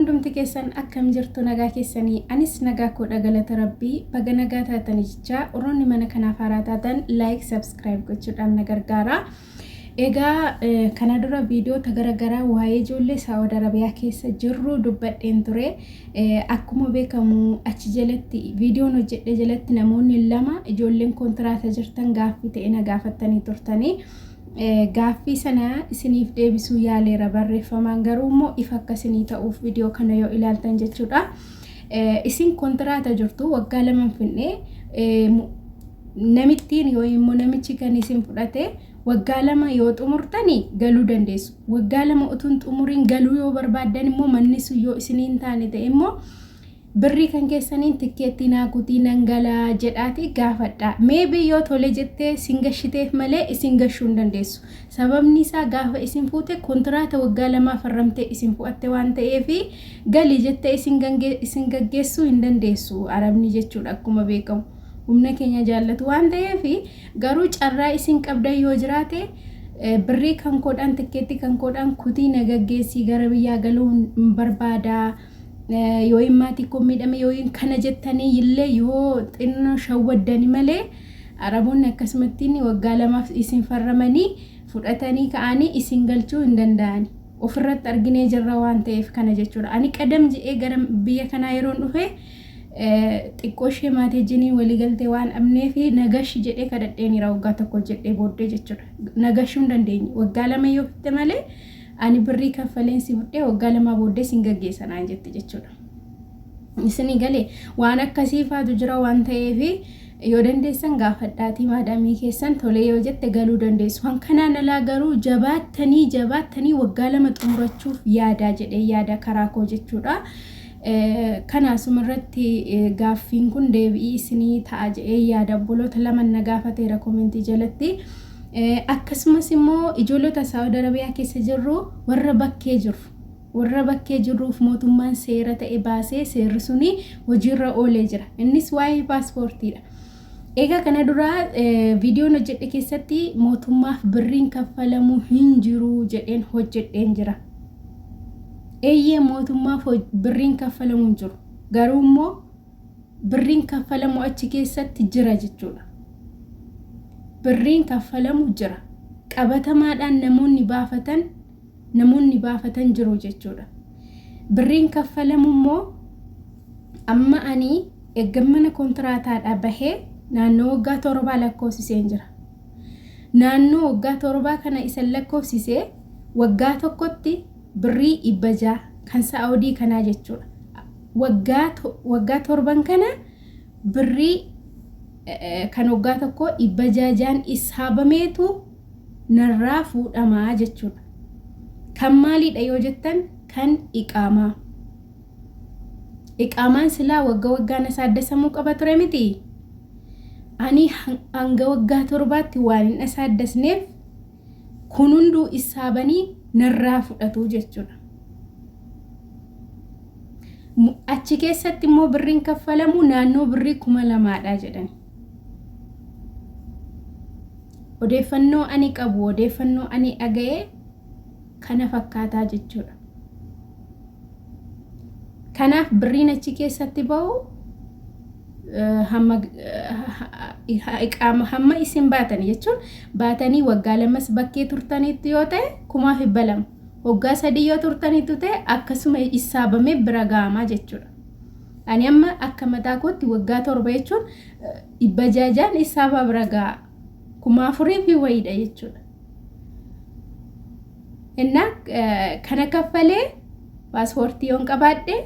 Hundumti keessan akkam jirtu nagaa keessani anis nagaa koodha galata rabbii baga nagaa taatani jechaa warroonni mana kanaaf haaraa taatan like subscribe gochuudhaan na gargaara egaa kana dura viidiyoota gara garaa waa'ee ijoollee saawud arabiyaa keessa jirru dubbadheen ture akkuma beekamu achi jalatti viidiyoon hojjedhe jalatti namoonni lama ijoolleen kontiraata jirtan gaaffii ta'e na gaafattanii turtanii Gaaffii sana isiniif deebisuu yaaleera barreeffamaan garuu immoo ifa akka isinii ta'uuf viidiyoo kana yoo ilaaltan jechuudha. Isin kontiraata jirtu waggaa lama hin finne namittiin yoo immoo namichi kan isin fudhate waggaa lama yoo xumurtani galuu dandeessu. Waggaa lama utuu hin xumuriin galuu yoo barbaaddan immoo manni sun yoo isinii hin taane ta'e immoo Birrii kan keessaniin tikkeettii naa kutii nan gala jedhaatii gaafadhaa. Maybe yoo tole jettee sin gashiteef malee isin gashuu hin dandeessu. Sababni isaa gaafa isin fuute kontiraata waggaa lamaa farramtee isin fu'atte waan ta'eef gali jettee isin gange isin gaggeessuu hin dandeessu Arabni jechuudha akkuma beekamu. Humna keenya jaallatu waan ta'eef garuu carraa isin qabdan yoo jiraate birrii kan koodhaan tikkeettii kan koodhaan kutii na gaggeessii gara biyyaa galuu hin barbaadaa. Yooyin maatii koo miidhame yooyin kana jettanii illee yoo xinno shawwaddani malee Araboonni akkasumattiin waggaa lamaaf isin farramanii fudhatanii ka'anii isin galchuu hin danda'ani. Ofirratti arginee jirra waan ta'eef kana jechuudha. Ani qadam je'ee gara biyya kanaa yeroon dhufe xiqqoo ishee maatii jiniin waliigaltee waan dhabnee fi nagashi jedhee kadhadheenira waggaa tokko jedhee booddee jechuudha. Nagashuu hin dandeenye. Waggaa lama yoo fitte malee Ani birrii kaffaleen si fudhee waggaa lamaa booddee sin gaggeessa naan jette jechuudha. Isinii galee waan akkasii faatu jira waan ta'eef yoo dandeessan gaafadhaatii maadaamii keessan tolee yoo jette galuu dandeessu. Kan kanaan alaa garuu jabaattanii jabaattanii waggaa lama xumurachuuf yaadaa jedhee yaada karaa koo jechuudha. Kanaasuma irratti gaaffiin kun deebi'ii isinii ta'a jedhee yaada obboloota lama na gaafateera koomentii jalatti. Akkasumas immoo ijoolota Saawud Arabiyaa keessa jirru warra bakkee jirru. Warra bakkee jirruuf mootummaan seera ta'e baasee seerri suni hojiirra oolee jira. Innis waa'ee paaspoortiidha. Egaa kana dura viidiyoon hojjedhe keessatti mootummaaf birriin kaffalamu hin jiru jedheen hojjedheen jira. Eeyyee mootummaaf birriin kaffalamu hin jiru. Garuu immoo birriin kaffalamu achi keessatti jira jechuudha. Birriin kaffalamu jira. Qabatamaadhaan namoonni baafatan namoonni baafatan jiru jechuudha. Birriin kaffalamu immoo amma ani erga mana kontiraataadhaa bahee naannoo waggaa torbaa lakkoofsiseen jira. Naannoo waggaa torbaa kana isan lakkoofsisee waggaa tokkotti birrii dhibba ja'a kan saa'odii kanaa jechuudha. Waggaa waggaa torban kana birrii kan waggaa tokkoo dhibba ja'a ja'an issaabameetu narraa fuudhama jechuudha. Kan maaliidha yoo jettan kan iqaamaa. Iqaamaan silaa wagga waggaan asaaddasamuu qaba ture miti. Ani hanga waggaa torbaatti waan hin asaaddasneef Kun hunduu issaabanii narraa fudhatu jechuudha. Achi keessatti immoo birriin kaffalamu naannoo birrii kuma lamaadha jedhani. Odeeffannoo ani qabu, odeeffannoo ani dhaga'e kana fakkaataa jechuudha. Kanaaf birriin achi keessatti ba'u hamma iqaama hamma isin baatanii jechuun baatanii waggaa lamas bakkee turtaniitti yoo ta'e kumaa fi balam waggaa sadii yoo turtaniitti ta'e akkasuma issaabamee bira ga'amaa jechuudha. Ani amma akka mataa kootti waggaa torba jechuun dhibba jaajaan issaabaa bira ga'a kumaa afurii fi wayiidha jechuudha. Innaa kana kaffalee paaspoortii yoon qabaadhe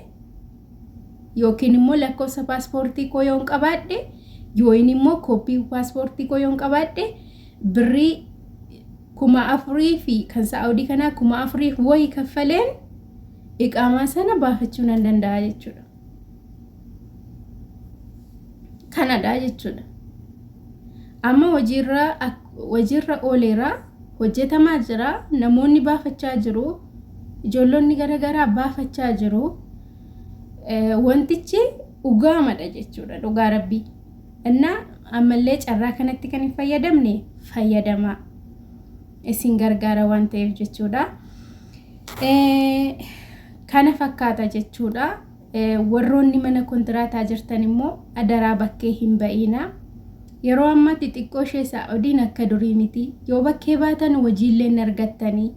yookiin immoo lakkoofsa paaspoortii koo yoon qabaadhe yookiin immoo kooppii paaspoortii koo yoon qabaadhe birrii kuma afurii fi kan saa'udii kanaa kuma afuriif wayi kaffaleen iqaamaa sana baafachuu nan danda'a jechuudha. Kanadha jechuudha. Amma hojiirra hojiirra ooleera. Hojjetamaa jira. Namoonni baafachaa jiru. Ijoollonni gara garaa baafachaa jiru. Wantichi dhugaamadha jechuudha. Dhugaa rabbii. Innaa ammallee carraa kanatti kan hin fayyadamne fayyadamaa. Isin gargaara waan ta'eef jechuudha. Kana fakkaata jechuudha. Warroonni mana kontiraataa jirtan immoo adaraa bakkee hin ba'iinaa. Yeroo ammaa xixiqqoo ishee Saa'udiin akka durii miti. Yoo bakkee baatan hojiillee hin argattanii.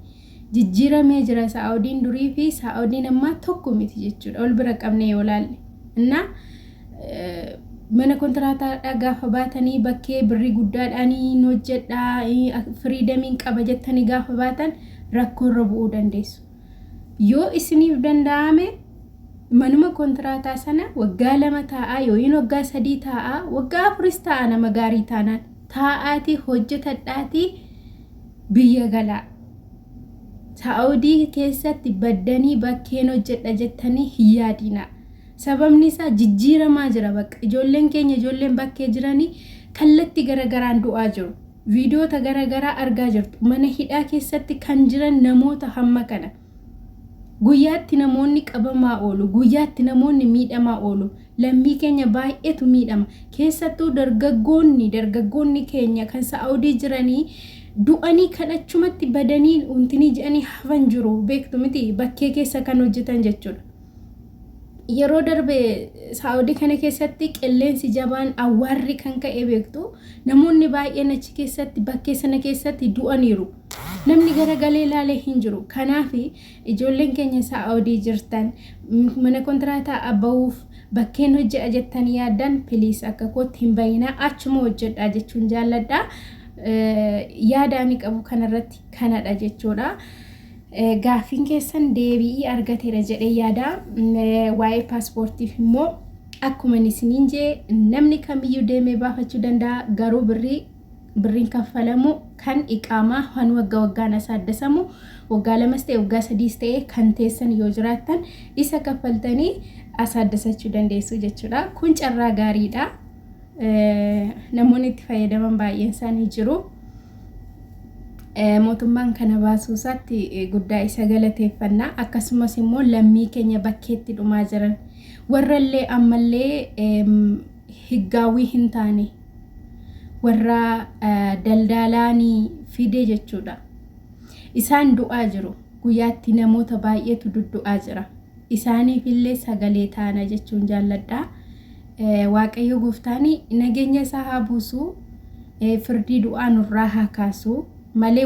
Jijjiiramee jira Saa'udiin durii fi Saa'udiin ammaa tokko miti jechuudha. Ol bira qabnee yoo laalle. Innaa mana kontiraataadhaa gaafa baatanii bakkee birrii guddaadhaan hin hojjedhaa firiidamiin qaba jettanii gaafa baatan rakkoorra bu'uu dandeessu. Yoo isiniif danda'ame manuma kontiraataa sana waggaa lama taa'aa yookiin waggaa sadii taa'aa waggaa afuris taa'aa nama gaarii taanaan taa'aatii hojjetadhaatii biyya galaa. Saa'udii keessatti baddanii bakkeen hojjedha jettanii hin yaadina. Sababni isaa jijjiiramaa jira bakka ijoolleen keenya ijoolleen bakkee jiranii kallatti garagaraan du'aa jiru. Viidiyoota gara garaa argaa jirtu. Mana hidhaa keessatti kan jiran namoota hamma kana. Guyyaatti namoonni qabamaa oolu, guyyaatti namoonni miidhamaa oolu. Lammii keenya baay'eetu miidhama. Keessattuu dargaggoonni, dargaggoonni keenya kan Saa'udii jiranii du'anii kan achumatti badanii untinii jedhanii hafan jiru. Beektu miti bakkee keessa kan hojjetan jechuudha. yeroo darbe saa'udii kana keessatti qilleensi jabaan awwaarri kan ka'e beektu namoonni baay'een achi keessatti bakkee sana keessatti du'aniiru namni gara galee ilaalee hin jiru kanaaf ijoolleen keenya saa'udii jirtan mana kontiraataa abba'uuf bakkeen hojje'a jettan yaaddan piliis akka kootti hin bayinaa achuma hojjedhaa jechuun jaalladha yaada ani qabu kanarratti kanadha jechuudha. Gaaffiin keessan deebi'ii argateera jedhee yaada. Waa'ee paaspoortiif immoo akkuma isiniin jee namni kamiyyuu deemee baafachuu danda'a garuu birrii birriin kaffalamu kan iqaamaa kan waggaa waggaan asaaddasamu waggaa lamas ta'e waggaa sadiis ta'e kan teessan yoo jiraattan isa kaffaltanii asaaddasachuu dandeessu jechuudha. Kun carraa gaariidha. Namoonni itti fayyadaman baay'een isaanii jiru. Mootummaan kana baasuu isaatti guddaa isa galateeffanna. Akkasumas immoo lammii keenya bakkeetti dhumaa jiran warrallee ammallee higgaawwii hin taane warra daldaalaanii fide jechuudha. Isaan du'aa jiru. Guyyaatti namoota baay'eetu duddu'aa jira. isaaniifillee sagalee taana jechuun jaalladha. Waaqayyo gooftaan nageenya isaa haa buusu, firdii du'aa nurraa haa kaasu malee